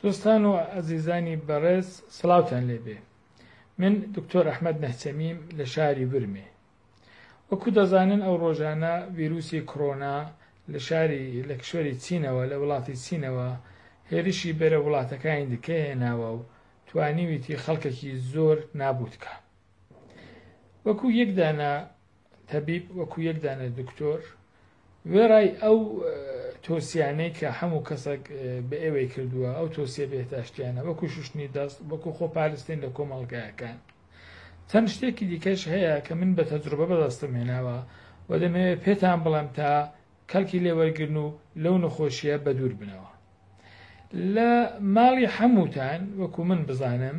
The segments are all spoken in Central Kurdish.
دۆستان و ئەزیزانی بەڕێز سڵاوتان لێبێ من دکتۆر ئەحمەد نەهچەمیم لە شاری ورمێ وەکو دەزانن ئەو ڕۆژانە ویروسی کڕۆنا لە شاری لە کشوەری چینەوە لە وڵاتی چینەوە هێرشی بەرە وڵاتەکانی دیکە هێناوە و توانیویتی خەڵکەکی زۆر نابوتکە وەکو یەکدانە تەبیب وەکو یەک دانە دکتۆر وێڕای ئەو تۆسیانەی کە هەموو کەسەک بە ئێوەی کردووە ئەو تۆسیە بێتاشتیانە وەکو شوشتنی دەست وەکو خۆپارستین لە کۆمەڵگایەکان چەند شتێکی دیکەش هەیە کە من بە تەجروبە بەدەستم هێناوە و دەمەوێت پێتان بڵێم تا کەلکی لێوەرگرن و لەو نەخۆشیە بەدوور بنەوە لە ماڵی حەمووتان وەکو من بزانم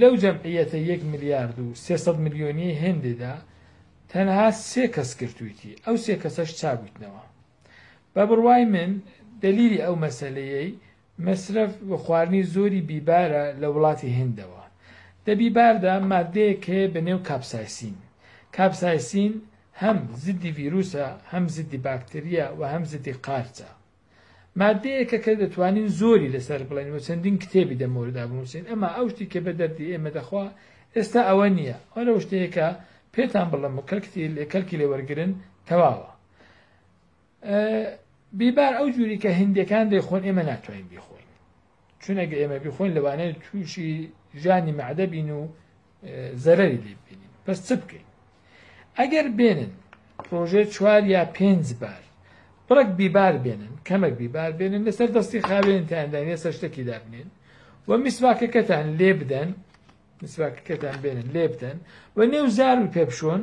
لەو جەمعیەتە یەک ملیارد و سێ سەد ملیۆنیەی هێندێدا تەنها سێ کەس گرتوویتی ئەو سێ کەسەش چابوویتنەوە بە بڕوای من دەلیلی ئەو مەسەلەیەی مەسرەف و خواردنی زۆری بیبارە لە وڵاتی هندەوە دە بیباردا مادەیەک هەیە بە نێو کاپسایسین کاپسایسین هەم زدی ڤیروسە هەم زدی باکتریا و هەم زدی قارچە ماددەیەکە کە دەتوانین زۆری لەسەر بڵێن و چەندین کتێبی دەمەوەدا بنووسین ئەما ئەو شتی کە بە دەردی ئێمە دەخوا ئێستا ئەوە نییە ئەو لەو شتەیەکە پێتان بڵم و کەلکتی لێ کەلکی لێ وەرگن تەواوە بیبار ئەو جووری کە هندەکان دەیخۆن ئێمە ناتوانین بیخۆین چونەگە ئێمە بیخۆین لەوانەیە تووشی ژانی مەعدەبین و زەرەری لێ بینین بەس چ بکەین ئەگەر بێنن پرۆژێ چوار یا پێنج بار بڕک بیبار بێنن کەمەک بیبار بێنن لەسەر دەستی خاوێنتاندان ێستا شتێکی دابنێن و میسواکەکەتان لێ بدەن میسواکەکەتان بێنن لێ بدەن و نێو زار و پێپشۆن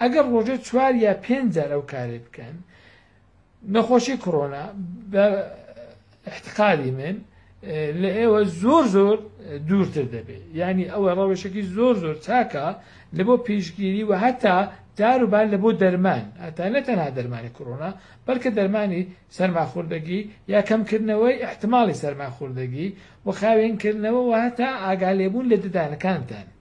ئەگەر ڕۆژێ چوار یا پێنج جار ئەو کارەی بکەن نەخۆشی کڕۆنا بە احتقالی من لە ئێوە زۆر زۆر دوورتر دەبێت ینی ئەوە ڕەوشێکی زۆر زۆر چاکە لە بۆ پێشگیری و هەتا داروبار لە بۆ دەرمان ئەتا نە تەنها دەرمانی کڕۆنا بەڵکە دەرمانی سەرماخوردەگی یا کەمکردنەوەی احتمالی سەرماخوردەگی و خاوێنکردنەوە و هەتا ئاگالێبوون لە ددانەکانتان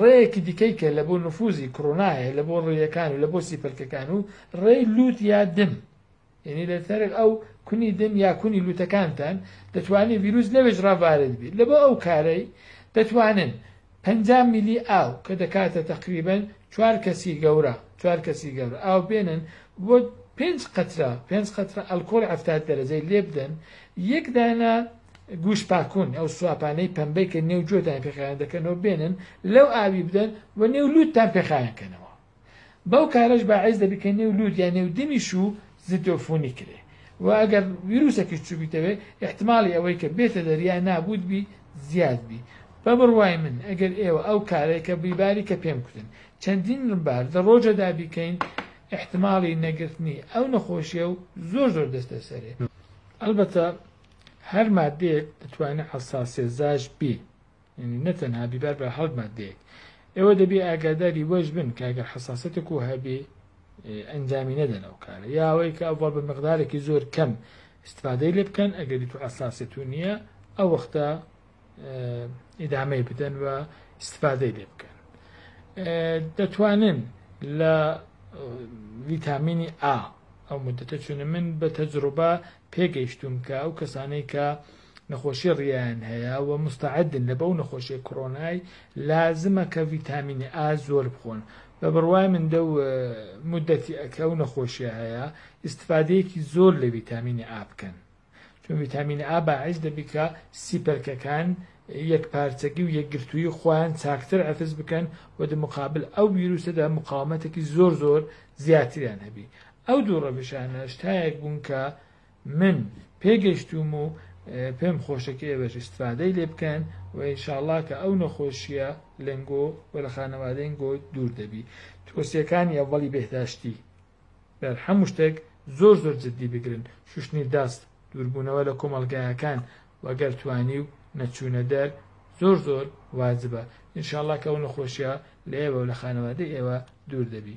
ڕێیەکی دیکەی کە لە بۆ نفوزی کڕۆنایە لە بۆ ڕێیەکان و لە بۆ سیپەلکەکان و ڕێی لووت یا دم یعنی لە تەرێک ئەو کونی دم یا کونی لوتەکانتان دەتوانێت ویروس لەوێش ڕاوارد بێت لە بۆ ئەو کارەی دەتوانن 50 میلی ئاو کە دەکاتە تقریبن چوار کەسی گەورە چوار کەسی گەورە ئاو بێنن بۆ پێنج قەترە پێنج قەترە ئەلکۆڵ هەفتات دەرەجەی لێ بدەن یەک دانە گوش پاکون ئەو سواپانەی پەمبەی کە نێو جۆتان پێ خایەن دەکەنەوە بێنن لەو ئاوی بدەن و نێو لوتتان پێ خایەن کەنەوە بەو کارەش باعیز دەبی کە نێو لوت یا نێو دمیش و زیدۆفونی کرێ و ئەگەر ویروسەکەش چوبیتەوێ احتمالی ئەوەی کە بێتە دەریا نابوت بی زیاد بی بە بڕوای من ئەگەر ئێوە ئەو کارەی کە بیباری کە پێم کوتن چەندین بار دە ڕۆژەدا بیکەین احتمالی نەگرتنی ئەو نەخۆشیە و زۆر زۆر دەستە سەرێ ئەلبەتە هەر ماددەیەک دەتوانێت حەساسێزاش بی یعنی نەتەنها بیبار بە هەڵک ماددەیەک ئێوە دەبێ ئاگاداری وەش بن کاگەر حەساسەتێک و هەبێ ئەنجامی نەدەن ئەو کارە یاوەی کە ئەوڵ بە مقدارێکی زۆر کەم استفادەی لێ بکەن ئەگەری تو ئەساسێت و نییە ئەو وەختە ئیدامەی بدەن و استفادەی لێ بکەن دەتوانن لە ویتامینی ئا ئەو مدەتە چونە من بە تەجروبە پێگەیشتوم کە ئەو کەسانەی کە نەخۆشی ڕیان هەیە و مستعدن لە بەو نەخۆشی کۆرۆنای لازمە کە ویتامینی ئا زۆر بخۆن بە بڕوای من دە مدەتی ئەکە و نەخۆشیە هەیە ئیسفادەیەکی زۆر لە ویتامینی ئا بکەن چون ڤیتامین ئا باعیس دەبی کە سیپەرکەکان یەکپارچەگی و یەکگرتوویی خویان چاکتر عەفز بکەن و دە مقابل ئەو ویروسەدا مقاومەتەکی زۆر زۆر زیاتریان هەبی. ئەو دوو ڕەوشانە شتایەک بوون کە من پێ گەشتووم و پێم خۆشە کە ئێوەش ئیستفادەی لێ بکەن و ان شاء اللە کە ئەو نەخۆشییە لەنگۆ و لە خانەوادەی نگۆ دوور دەبی. توسیەکانی ئەڤەڵی بێهداشتی بەر هەموو شتێک زۆر زۆر جدی بگرن شوشتنی دەست، دووربوونەوە لە کۆمەڵگایەکان و گەر توانیو نەچوونە دەر زۆر زۆر واجبە، انشاءاللە کە ئەو نەخۆشیە لە ئێوە و لە خانەوادەی ئێوە دوور دەبی.